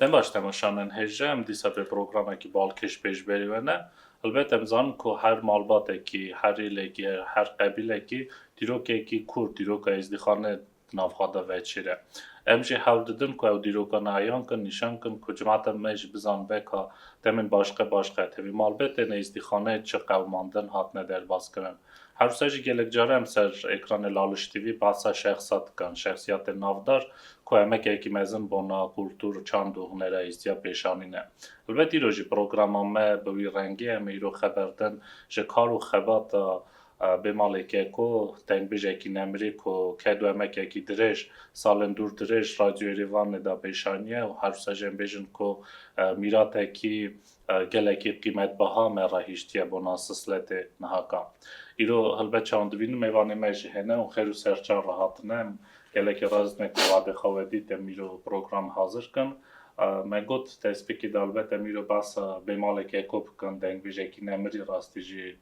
Dem baş temaşanen hêja em dîsa vê programekî balkêş pê ji berî we ne. Elbet em zanin ku her malbatekî, her rîlekî, her qebîlekî dîrokekî kûr, dîroka êzdîxane nav xwe de veçîre. Em jî hewl didin ku ew dîroka ne eyan kin, nîşan kin ku civata me jî bizan veka demên başqe başqe tevî malbetê neyîstîxaneyê çi qewimandin hatine derbazkirin. Her wisa jî gelek care em ser ekranê Laliş TV behsa şexsa dikin, şexsiyatên navdar ku emekeyekî mezin bona kultur, çand û hunera hîstiya pêşanî ne. Helbet îro jî programa me bi wî rengê em ê îro xeberdin ji kar û xebata Bê malê Keko, tengbijekî nemirî ku ket wemekekî dirêj, salên dûr dirêj Radyo Erêvanê de pêşaniye û herwsejên bêjin ku mîratekî gelekî qîmetbeha me re hiştiye bona sisletê niha ka. Îro helbet çawan dibînin mêvanê me jî hene û xêr û serçar re hatine. Em gelekî rast ne ku vadê xwe wedî dem îro program hazir kin. Me got destpêkê de helbet em îro behsa Bê malê Keko bikin, dengbijekî nemirî rastî jî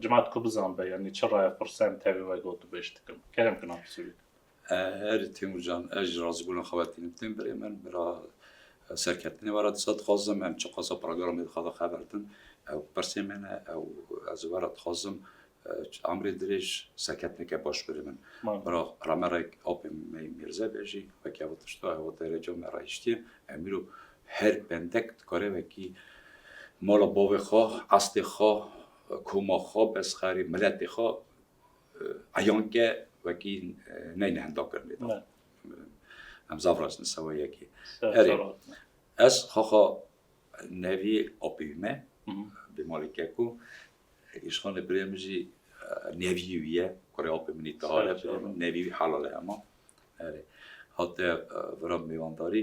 Cima diku bizan be, yanî çi raya firsem tevî we got û bêş dikim. Kerem kina pisûrê kir. Herî Têmûr can, ez ji razîbûna xwe ve tînim tên birê min, bila serkeftinê were disa dixwazim, em çiqasa programê dixwaze xeber din, ew pirsê me ne, ew ez ê were dixwazim emrê dirêj, serkeftineke baş birê min. Bila ramerek apê me yê mêrzebê jî weke ew tişta, ew derece me re hiştiye, em îro Her pendek dikare wekî mala bavê xwe, estê xwe, koma xwe, bezxerê miletê xwe eyan ke wekî neyne henda kirine da. Em zaf rast ne sewa yekê. Erê ez xaxa nevî apeyî me bi malê keko îşxanê birê min jî nevîyê wî ye. Kurê apê min î tihare birê min nevîyê wî helal e hema. Erê hate vira mêwandarî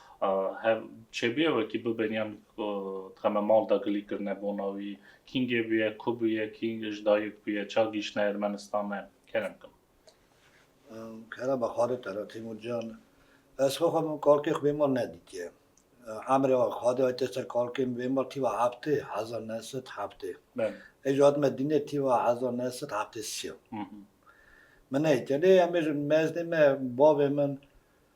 Hev çêbûye wekî bibên yan dixe me mal de gilî kirine bona wî. Kîngê bûye, ku bûye, kîng ji dayik bûye, ça gihîştine Ermenistane. Kerem kim. Kerem a Xalid te re Tîmur Can. Ez xwe xwe min kalkê xwe bêmal nedîtiye. Emrê a Xalidê a tê ser kalkê min bêmal tîva heftê hezar neh sed heftê. Ê jî hatime dînê tîva hezar neh sed heftê sî ya. Min nehîtiye. Lê em ê ji mezdê me bavê min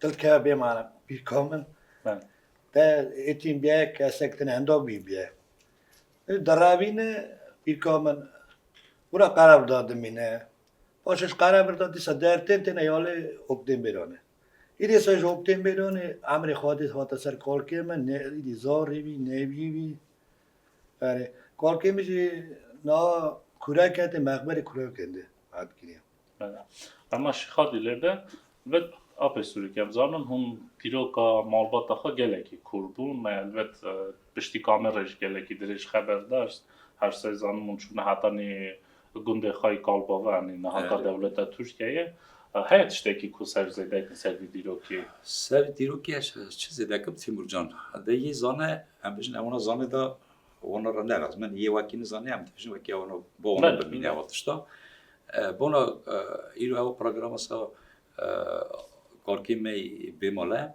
Tilkeya bê mane pîrka min te êtîn biye kesek tine enda bî biye. Deravîne pîrka min wira qerev da dimîne. Paşê ji qerebir da dîsa dertên têne ya lê oktên bêranê. Îdî êse ji oktên bêranê emrê xwe dît hate ser kalkê min nê îdî zarî bî nêbî bî. Erê kalkê min jî niha kurek hate mexberê kurekan de Ema Şixadî lê be ve apê Sûrî ke em zanin hûn dîroka malbata xwe gelekî kûr bû. Me elbet piştî kamerê ji gelekî dirêj xeber daş. Her sey zanim hûn çûne heta nê gundê xwe yê Kalbava yanî nihata dewleta Tirkiyeyê. Heye tiştekî ku ser zêde dikin ser vî dîrokê? Ser vî dîrokê ez çi zêde dikim Tîmurcan, de yê zane em bijîn ewna zane de Wano ra nera min yê wekî nizane em dibêjin wekî wano bo wano bimîne ew tişta. Bona îro ew programa sa kalkê me bêmale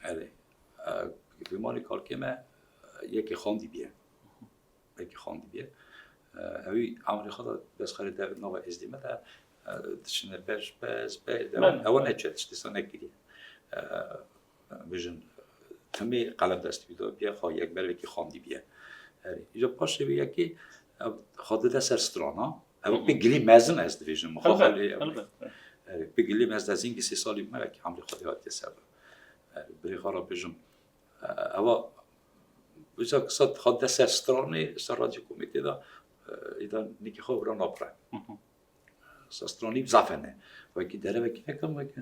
erê bêmalê kalkê me yekê xandî bîye. Yekê xandî bîye. Ewî emrê xwe da destxerê dev nava êzdî me de diçine ber ji pez ber ew neçe tiştê sa nekiriye. Bêjin temê qelem dest bî dabiye xwe yek ber vekî xandî biye. Herî. Îca paşê vê yekê xwe dide ser strana. Ev pê gilî mezin ez dibêjin. Pê gilî mez de zîngî sê salî me vekî hemrê xwe dê hatiye ser. Birê xwe ra bêjin ewa Wisa kisa xwe dide ser stranê ser radyo komêtê de îda nikî xwe vira napre. Sastranî zafene. Wekî derevekî nekam weke.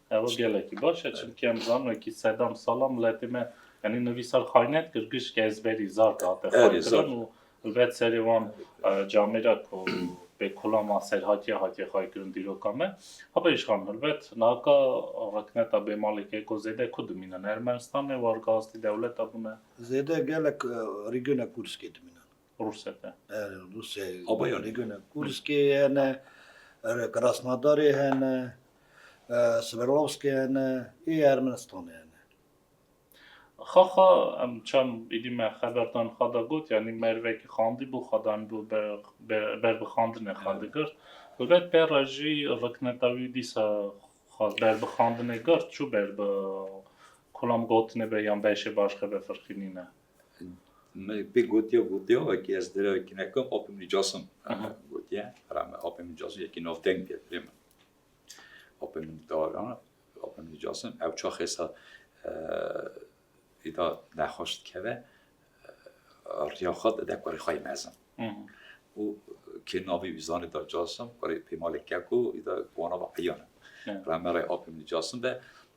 Ew gelekî baş e çimkî em zan wekî sedam salam miletê me yanî nivî sar xaynet kir gişkî ezberî zar dihate xaykirin û ilbet serê wan camê re ku bê kula ma ser hatiye hatiye xaykirin dîroka me. Haba îşxan ilbet naka rikneta bê malê ke ku zêde ku dimînin Ermenistanê wargastî dewleta bûne. Zêde gelek rîgûne Kûrskê dimînin. Rusek e. Rusê Abayanê. Nigune Kurskê hene, er, Krasnodarê hene, e, Sverdlovskê hene, ê Ermenistanê hene. Xaxa em çem êdî me xeberdan xwe da got yanî merivekî xandî bû xwe danîbû ber be ber bi xandinê xwe digirt. Helbet pê re jî rikneta wî dîsa xwe ber bi xandinê girt çû ber bi kulam gotinê be yan beşê başxe be firqî nîne. Me pê gotiya gotiya wekî ez dire wekî nekim apê min cas in gotiye hera me apê min cas in yekî navteng diye dilê min apê min dara apê min cas in ew çax êsa îda nexweş dikeve riya xwe dide kurê xwe yê mezin û kê navî wî zanê da cas in kurê pêmalê keko îda wana va eyan in re me re apê min cas in de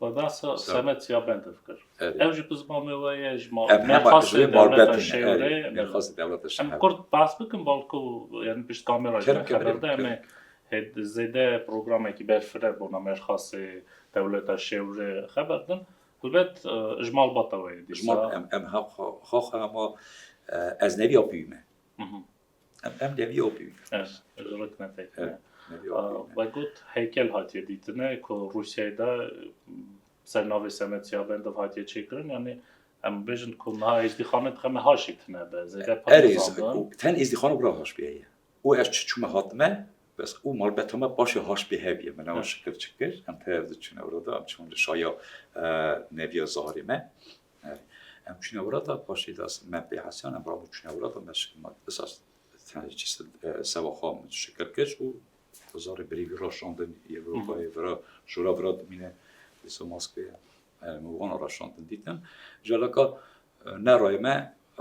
We behsa senet ya Bendov kir. Ev jî bi zimanê we ye, ji malbatê dewleta Şewrê. Em kurt behs bikin bal ku yanî pişt kamera jî me xeber de em ê zêde programekî berfireh bona mêrxasê dewleta Şewrê xeber din. Helbet ji malbata we ye dîsa. Em xaxa ma ez ne vîya pî me. Em em neviye o pîvî. Ez ez rit ne pek. Evet. Neviye o pîvî. Ve got heykel hatiye dîtine ku Rûsyayê de ser navê Semet Siyabendov hatiye çêkirin yani em bêjin ku niha êzdîxane dixeme haş îtine be. Zêde pir Erê nizandin. ten êzdîxane bira haş bîye ye. Û ez çi çûme hatime bes û malbeta me paşê haş bî hev ye. Me newa şikir çikir em tev diçûne orada em çûn li şaya neviya zarê me. Em çûne wirata paşê de me pê hesiyan em rabû çûne wirata me esas sewa xwe min şikir kir û zarê birî vî ra şandin Ewropayê vira jora vira dimîne dîsa maskê min wana ra şandin dîtin ji alaka ne rayê me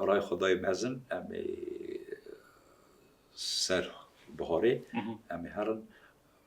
rayê xwe dayê mezin em ê ser biharê em ê herin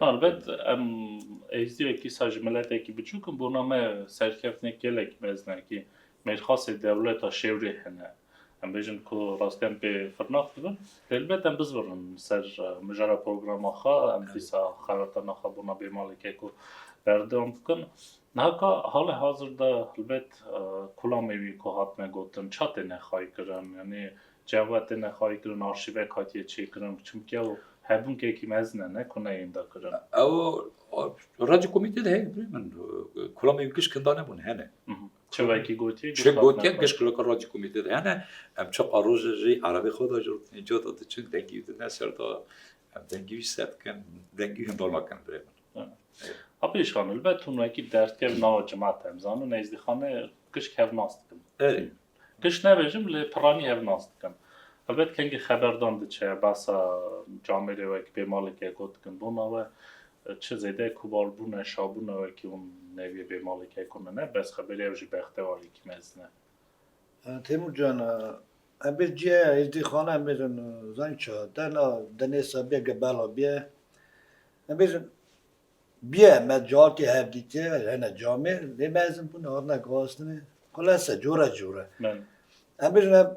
Elbet em êzdiyekî sa ji miletekî biçûk in bona me serkeftinê gelek mezin e kî mêrxasê dewleta şêwrê hene. Em bêjin ku rastiyan pê firnax dibin. Elbet em bizbirin ser mijara programa xwe em dîsa xelatana xwe bona bê malê ke ku berdewam bikin. Niha ka halê hazir de elbet kulamê wî ku hatine gotin ça têne xaykirin yanî Çawa te nexwayî kirin arşîvek hatiye çêkirin çimkî ew hebûnkekî mezin e ne ku neyên dakirin. Ew radyo komîtê de heye birê min kulamê giş kinda nebûn hene. Çi wekî gotiye Çi gotiye giş kulaka radyo komîtê de hene em çi qarojê jî erebê xwe da jotnê ca da diçin dengî wî dine ser da em dengî wî ser dikin dengî wî hindor nakin birê min. Apê şan li ber tunwekî derdkev nawa cima te em zanin nêzdîxane giş kevnas dikin. Giş nebêjim lê piranî hev nas dikim. Helbet kengî xeberdan diçe behsa camêrê wek bê maleke gotikin dona we çi zêde kobalbûne, şabûne wekî hûn neviyê bê maleke ku min e bes xeberê ew jî bextewarîkî mezin e. Têmur can, em bê cîyeya Êzdî xana em bêjin zanî çi hat. Dena denê Sabiye ge bela bîye. Em bêjin Bîye me carkê hevdîtî hene camê lê mezin bûne hatine guhastinê xulese cure cure. Em bêjin em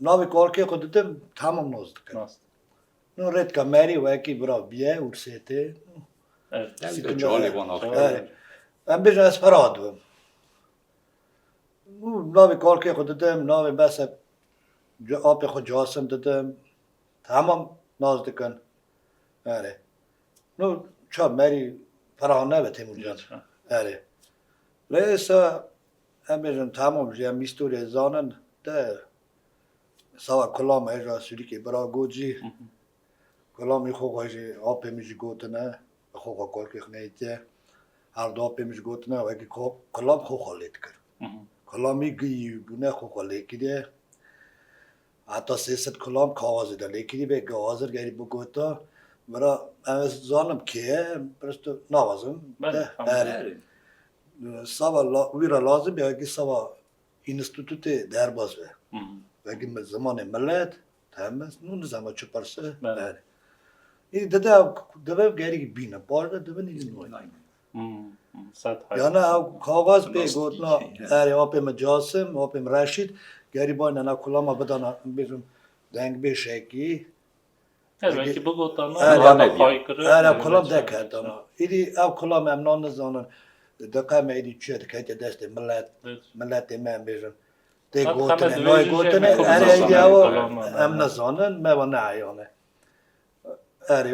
navê karkê xwe didim tamam nas dikin. No rê dika merî wekî bira bîye ûrsêtê. Em bêjin ez pira dibim. Û navê karkê xwe didim navê bese apê xwe casim didim tamam nas dikin. Erê. No ça merî Ferhan nebe Têmur Cad. Erê. Lê êsta em bêjin tamam jî em îstorîyê zanin de sava Kulam hêja Sûrîkê bira got jî Kulamî xo xwe jî apê min jî gotine bi xo xwe kolkê xwe neyîtiye. Her du apê min jî gotine wekî ku Kulam xo xwe lê dikir. Kulamî giyî bûne xo xwe lê kiriye. Heta sê sed kulam kawazê de lêkirî bê gawazir gerî bigota mira em ez zanim kê ye pirs tu nawazim berê. Sava wî re lazim bê wekî sava înîstîtûtê derbas be. Wekî zimanê milet temiz nû nizama çi pirse berê. Îdî dide dibe gerî bîne paşde dibe nîdî nayne. Yana ew kaxaz pê gotina erê apê min Casim, apê min Reşîd gerî bayna na kulama bidana bêjim deng bê şekî. Belkî bigotana erê kulam deketana. Îdî ew kulam em nan nizanin diqe me îdî çiye diketê destê milet, miletê me em bêjin. Tê gotinê, nayê gotinê erê îdî ew em nizanin me wan neeyane. Erê.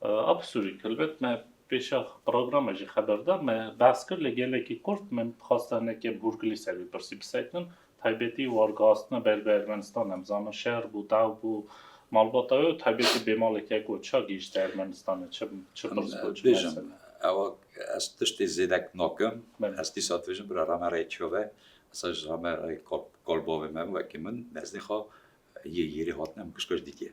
Absolut helbet me pêşa programê jî xeber da me behs kir lê gelekî kurt min dixwasta neke bi hûrgilî ser vî pirsî biseknin taybetî wargihastina ber bi Ermenistan em zanin şer bû daw bû malbata wê û taybetî bêmalekek got ça gihîşt Ermenistana çi çi pirs got çi bêjim ewa ez tiştê zêdek nakim ez dîsa dibêjim bira ramereyê çove esa ji ramereyê kolbavê me wekî min nezdê xwe yê yêrê hatine min kişkej dîtiye.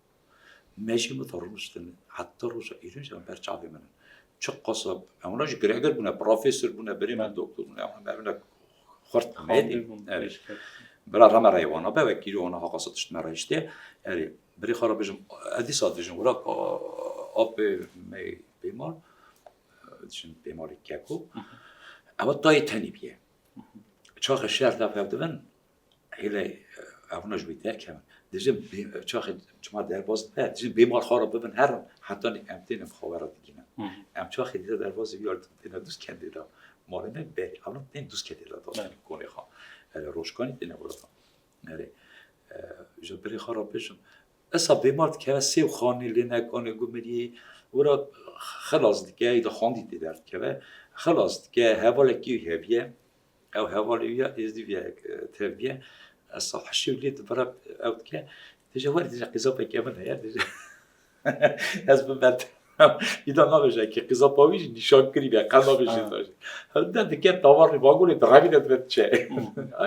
Me jî min da rûniştin heta roja îro jî em ber çavê min in. Çi qasa hewna jî giregir bûne, profesor bûne, birê me doktor bûne hewna me bûne xurt mêdî. Erê. Bira rame reyê wana be wek îro wana haqasa tişt me reyştê. Erê birê xwe ra bijim ez dîsa dijim wira apê me pêman dijim pêmanê keko ewa tayê tenê bîye. Çaxê şer tevhev dibin Hêle evna ji wî derkevin. Dijin çaxê çima derbas dibe, dijin bê mal xwara bibin herin hetanê em têne bi xwe ra digîne. Em çaxê dide derbas wî yardim têne dûst kendê de. Malê me berê evna tên dûst kendê de dastên konê xwe. Erê roşkanî têne wirata. Erê ji birê xwe ra bijim. Esa bê mal dikeve sêw xanê lê ne konê gumiriyê wira xilas dike î de xandî tê derdikeve. Xilas dike hevalekî hevî ye. Ew hevalê wî ya êzdîviyayek tevbiye esa hişê wî lê dibira ew dike dije were dije qîzapekê min heye dije ez biber Îda nabêje ki qîzapa wî jî nîşan kirî be qe nabêje de dike tavarê bagolê direvî de dibe diçe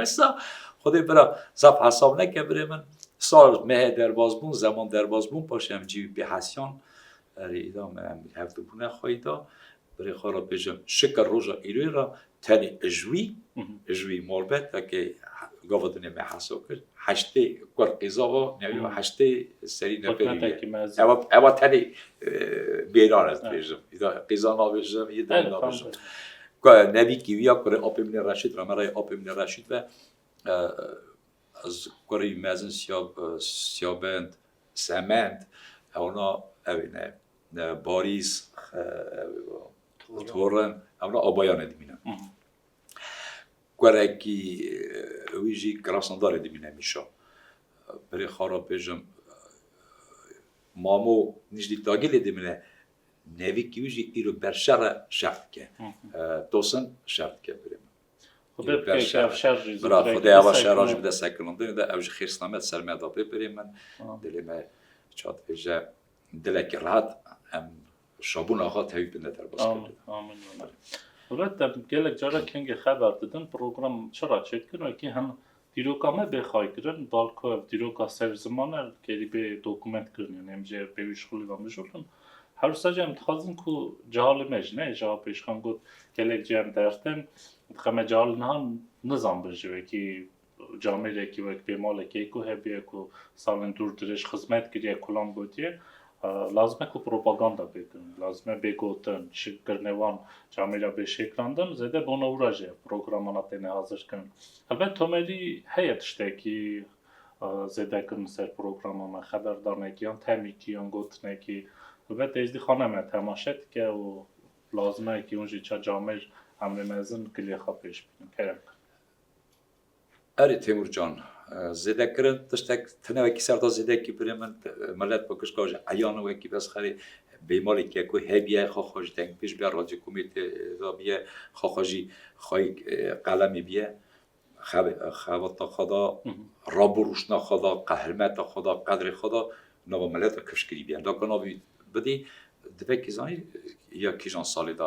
esa xwedê bira zaf hesab neke birê min sal mehê derbaz bûn zeman derbaz bûn paşê em cî wî pê hesiyan erê îda me em hevdibûne xweyda Birê xwe re bêjim şikir roja îroyê re tenê ji wî ji wî morbetekê gava di nê me heso kir heştê kur qîzava newî heştê serî neferî ewa ewa tenê bêran ez dibêjim qîza nabêjim yê de nabêjim nevî kîwiya kurê apê min ê reşîd re me reyê apê min ê reşîd ve ez kurî mezin siyabend semend ewna evê ne Barîs, Tor in, em li Abayanê dimînin. Kurekî wî jî Krasnodarê dimîne Mîşa. Berê Xara Pêjim, Mamo Nîcdî Tagilê dimîne. Nevîkî wî jî îro berşer e, şer dike. Tosin şer dike berê min. Xwedê bike ke ev şer jî zû direk bide sekinandinê. Xwedê ev şera jî bide sekinandinê de ew jî xêrsname di ser me de be berê min. Dilê me çad vêje. Dilekî rehat em şabûna xwe tevî bide derbas kerdin. Amin amin. Rûmet te gelek caran kengê xeber didin program çi ra çêdikin wekî hin dîroka me bê xaykirin balko ev dîroka ser ziman e kerî bê dokument kirin yanî em jê pêwîş xwilî ve mijûl in. Hewsa jî em dixwazin ku cehalê me jî ne ji a pêşxan got gelek cem derdtin dixeme cehal niha nizanbin ji wekî Camêrekî wek pê malê keyko hebûye ku salên dûr dirêj xizmet kiriye kulam gotiye lazim e ku propaganda pê kirin. Lazim e bê gotin, şik kirine wan camêra bê şêkrandin zêde bi ona wira jî programana têne hazir kirin. Helbet tomerî heye tiştekî zêde kirin ser programan me xeberdanekî yan temîkî yan gotinekî. Helbet Êzdî xane me temaşe dike û lazim e ku hûn jî ça camêr emrê mezin kilê xwe pêş bidin, kerem. Erê Têmur can, zêde kirin tiştek tune wekî serta zêdeyekî birê min milet bi kişka ji eyana wekî bes xerê bêmalê ke ku hêbîye xwe xwe ji dengpêş bîye racê komê tê da bîye xwe xwe jî xweyî qelemê bîye xebata xwe da rabûrûşna xwe da qehirmeta xwe da qedrê xwe da nava milet ve kifşkirî bîye daka navî bidî di vekî zanî ya kîjan salê da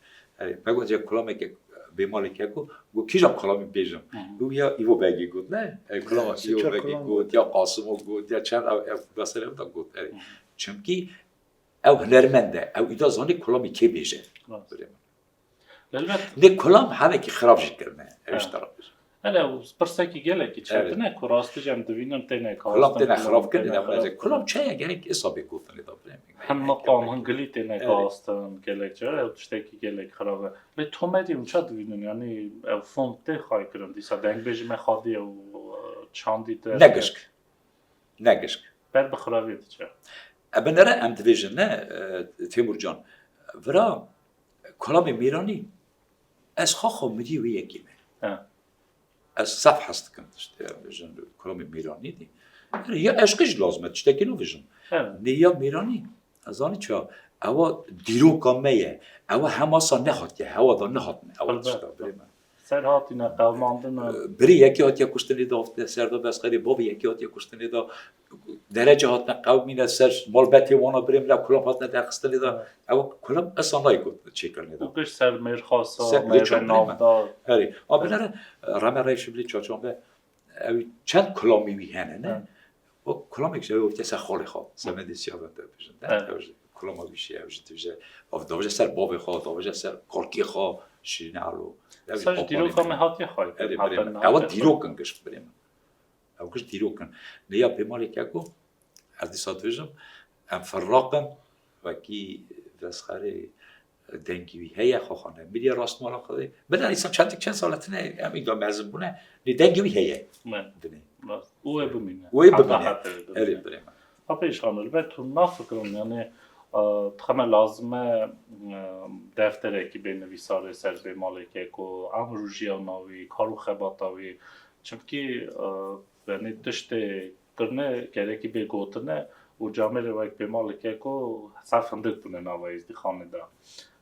Erê, me gotiye kulameke bêmalê ke ku got kîjan kulamî bêjim. Û ya Îvo Begî got ne. Erê kulama Îvo Begî got ya Qasimo got ya çend ev da ser ev da got. Erê. Çimkî ew hunermend e. Ew îda zanî kulamî kê bêje. Lê kulam helekî xirab jî kirine. Ew ji te re bêjim. Hele û pirsekî gelekî çetin e ku rastî jî em dibînin têne karistin. Kulam têne xirabkirin ya xwe kulam çaya gelek isabê gotinê da birê min. Hem maqam hem gilî têne karistin gelek cara ew tiştekî gelek xirab e. Lê tomedî hûn ça dibînin yanî ew fond tê xayî kirin dîsa dengbêjî me xwedî ew çandî te. Ne gişk. Ne gişk. Ber bi xirabiyê diçe. E binere em dibêjin ne Têmurcan. Vira kulamê mêranî Ez xwe xwe mirî wê yekê me. Ez saf hes dikim tiştê vijin kuromê mêranî dî. Ya eşqî jî lazim e tiştekî no vijin. Nê ya mêranî ez zanî çi ya ewa dîroka me ye. Ewa hemasa nehatiye hewa da nehatine ewa tişta birê me. Ser hatîne qewmandin e. Birê yekê hatiye kuştinê de hatiye ser de bes xerê bavê yekê hatiye kuştinê de Derece hatine qewimîne ser malbetê wan a birê min e, kulam hatine derxistinê de. Ew kulam esa nayê ku çêkirine de. Û giş ser mêrxasa mêrve navda. Herî. A binêre Rame Reyê Şibilî Çaçanbe ew çend kulamî wî hene ne? Wek kulamêk ji ew wekî ser xalê xwe, semedê sîya ve te bêjin ne? Ew ji kulama wî şîya, ew jî dibêje ew dabêje ser bavê xwe, dabêje ser kalkê xwe Şirîne Elo. Ser ji dîroka me hatiye xayîr kirin. Herî birê min. Ew dîrok in giş birê min. Ew kişt dîrok in. Lê ya pêmalê ke ku ez dîsa dibêjim em ferraq in wekî vesxerê dengî wî heye xwaxan e mirîya rastmala xwedê min a dîsa çendik çend sal tine em î ga mezin bûne lê dengî wî heye dinê wê bimîne wê bimîne erê birê min Apê şano li ber tu nafikirin yanê dixeme lazim e defterekî bê nivîsarê ser bê malekê ku emru jiyana wî kar û xebata wî çimkî yanê tiştê kirine gerekî bê gotine û camêrê wek bê malekê ku ser findik bûne nava êzdîxanê de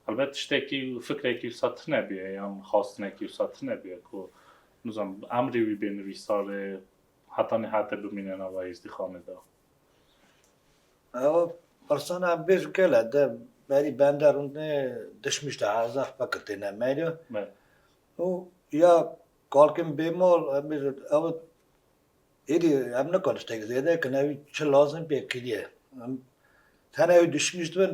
helbet tiştekî fikrekî wisa tune bûye yan xastinekî wisa tune bûye ku nizanim emrê wî bê nivîsarê Heta nihate bimîne nava hêzdîxanê de. Ew persana em bêjin kele de berî bende rûnê dişmiş de hezar fekir têne merya. Û ya kalkên bêmal em bêjin ew êdî em nikan tiştek zêde kin ew çi lazim pê kiriye. Em tene ew dişmiş dibin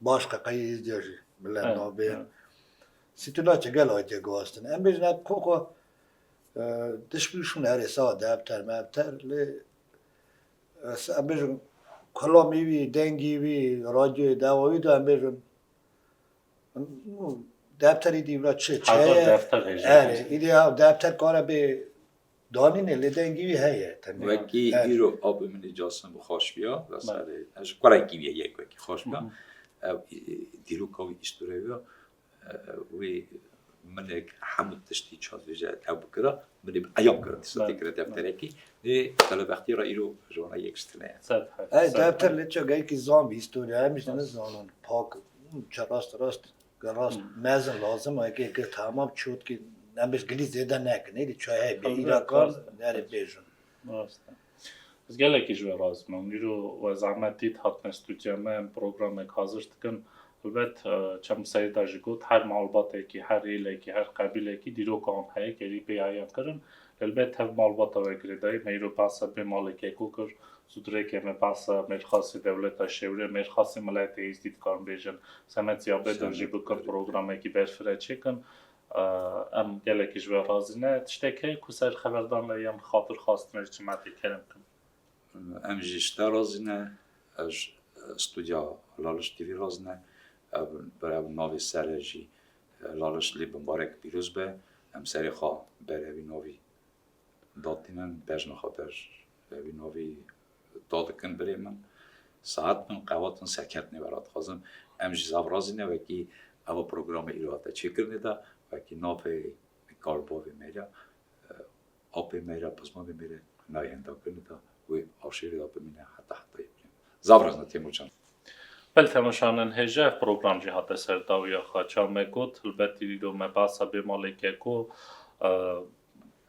Baş qeqeyî îzdîya jî bila navê Sîtuna çi gel ayîtiye guhastin. Em bêjin ev xo xo tişkî şûn herê sade ev ter me ev ter lê em bêjin kulamî wî, dengî wî, radyoyê dewa wî de em bêjin defterî dî bila çi çeye. Erê îdî defter kare bê Danîne lê dengî wî heye. Wekî îro avê min ê casin bi xweş biya li serê ji kurekî wî yek wekî xweş biya ew dîroka wî îstore biya wê minek hemû tiştî çandvêje ew bikira min ê bi eyam kira dîsa tê kira defterekî lê telebextî re îro ji wan re yek ji tune ye. Ev defter lê çi geyikî zan bî îstorî em jî ne zanin pak çi rast rast Ke rast mezin lazim e ke ke tamam çotkî nemij gilî zêde nekin êdî çayê bê îra kar nerê bêjin. Rast e. Ez gelekî ji we razî me û îro we zehmet dît hatine studya me em programek hazir dikin. Helbet çem Seyda jî got her malbatekî, her êlekî, her qebîlekî dîroka wan heye ke êdî pêya yan kirin. Helbet hev malbata we girêdayî meyro behsa bê malê Keko kir, zûdirê ke me behsa mêrxasê dewleta Şewrê, mêrxasê miletê Êzdî dikarin bêjin. Semed ya bê dir jî bikin programekî berfireh çêkin. Em gelekî ji we razî ne. Tiştek heye ku ser xeberdan re yên xatir xastin re çima tê kerem kin? Em jî ji te razî ne, ji studya Hilal Îştîrî razî ne. Ev bi navê Serê jî Laliş lê bi barek pîroz be em serê xwe bere wî navî dadînin bejna xwe ber be wî navî dadikin birê min saet min qewatin serkeftinê vera dixwazim em jî zav razîne wekî ewa programê îro hate çêkirinê de wekî navê kalbavê mêrya Apê me re, pizmandê me re nayê hendakirinê de wê aşêrê de bimîne heta hetayê bûye. Zaf rexne Têmurcan. Bel Têmurcan in hêja ev program jî hate ser dawiya xwe. Çawa me got hilbetî dîdo me behsa bê maleke ku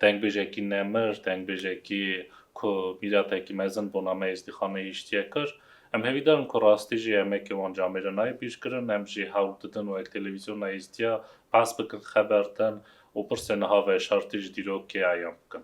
dengbêjekî nemir, dengbêjekî ku mîratekî mezin bona me êzdîxaneyê hiştiye kir. Em hêvî dar in ku rastî jî emekê wan camê re nayê bîrkirin. Em jî hewl didin wek televîzyona êzdiya behs bikin, xeber din, Û pirsê niha veşartî ji dîrok kê eyan bikin.